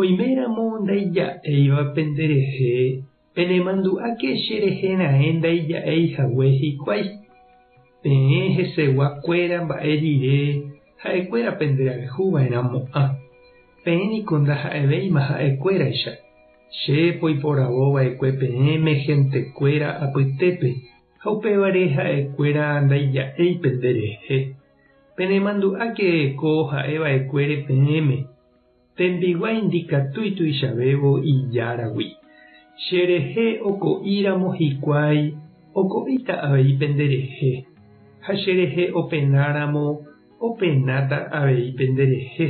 Oiméramo ndaija'éiva penderehe, penemandu'áke cherehe raẽ ndaija'éi hague hikuái. Peẽ hesegua kuéra mba'e rire ha'e kuéra penderayhu va'erã mo'ã. Peẽ niko ndaha'evéima ha'e kuéraicha. Che poiporavo va'ekue peẽme hénte kuéra apytépe ha upévare ha'e kuéra ndaija'éi penderehe. Penemandu'áke ko ha'e va'ekuére peẽme. Tembiguái ndikatúi tuichavévo ijáragui. Cherehe oko'íramo hikuái oko'íta avei penderehe, ha cherehe openáramo openáta avei penderehe.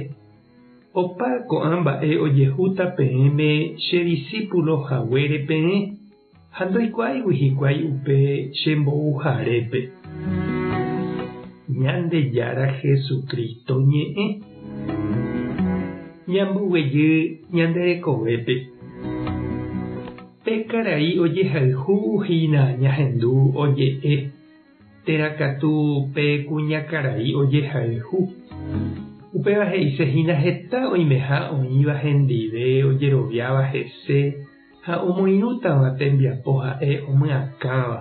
Opa ko'ã mba'e ojehúta peẽme che disípulo haguére peẽ. Ha ndoikuaáigui hikuái upe che mbo'uharépe Ñandejára Jesucristo ñe'ẽ. Ñamboguejy ñande rekovépe. Pe karai ojehayhu hína ñahendu oje'e térã katu pe kuñakarai ojehayhu. Upéva he'ise hína heta oimeha oĩva hendive ojeroviáva hese, ha omoirũtava tembiapo ha'e omyakãva.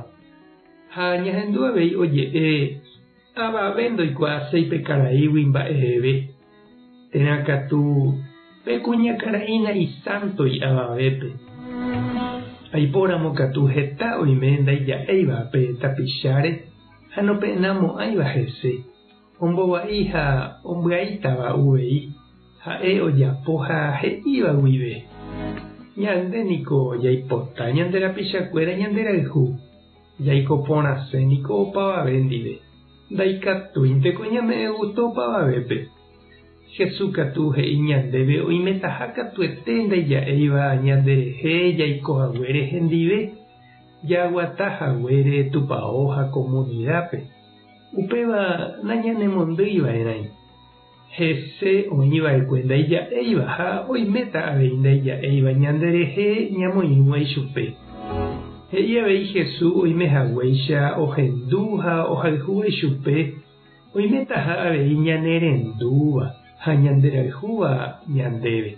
Ha ñahendu avei oje'e, Avave ndoikuaaséi pe karaígui mba'eveve, térã katu pe kuñakaraína isánto i'avavépe. Aipóramo katu heta oime ndaija'éiva pe tapicháre ha nope'namo'ãiva hese. Ombova'i ha ombyaítava uvei ha'e ojapo ha he'íva guive. Ñande niko jaipota ñande rapichakuéra ñanderayhu, jaiko porãse niko opavave ndive, ndaikatúinteko ñame'ẽ gusto opavavépe. Jesús katu he'i ñandéve oimetaha katuete ndaija'éiva ñanderehe jaiko haguére hendive, jaguata haguére Tupao ha komunidápe. Upéva nañanemondýiva'erãi hese oĩva'ekue ndaija'éiva ha oiméta avei ndaija'éiva ñanderehe ñamoirũva ichupe. He'i avei Jesús oimehaguéicha ohendu ha ohayhúva ichupe, oimetaha avei ñanerendúva ha ñanderayhúva ñandéve.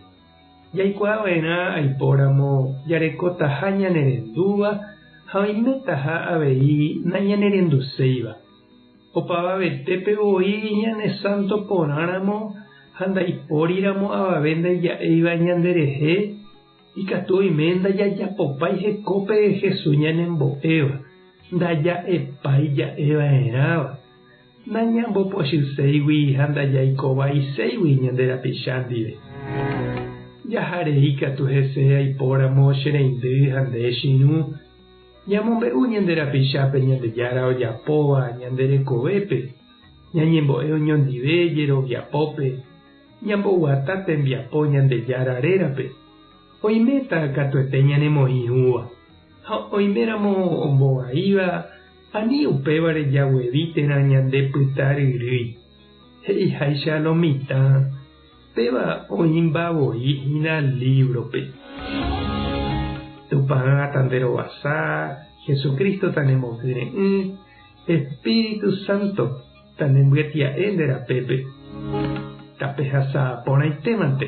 Jaikuaava'erã aipóramo jarekotaha ñanerendúva ha oimetaha avei nañanerenduséiva. Opavavetépe voi ñane sánto porãramo ha ndaipóriramo avave ndaija'éiva ñanderehe, ikatu oime ndajajapopái hekópe Jesús ñanembo'éva, ndaja'epái ja'eva'erãva. Nañambopochyséigui ha ndajaikovaiséigui ñande rapicha ndive. Jaharei katu hese aipóramo che reindy ha nde chirũ. Ñamombe'u ñande rapichápe Ñandejára ojapóva ñande rekovépe, ñañembo'e oñondive jeroviapópe, ñamboguata tembiapo Ñandejára rérape. Oiméta katuete ñanemoĩ hũva, ha oiméramo ombovaíva, Ani upévare jaguevi térã ñande pyta ryrýi, he'iháicha lo mitã, péva oĩmba voi hína lívrope. Tupã tanderovasa, Jesucristo tanemokyre'ỹ, Espíritu Santo tanembyatia'e nde rapépe, tapehasa porãitémante.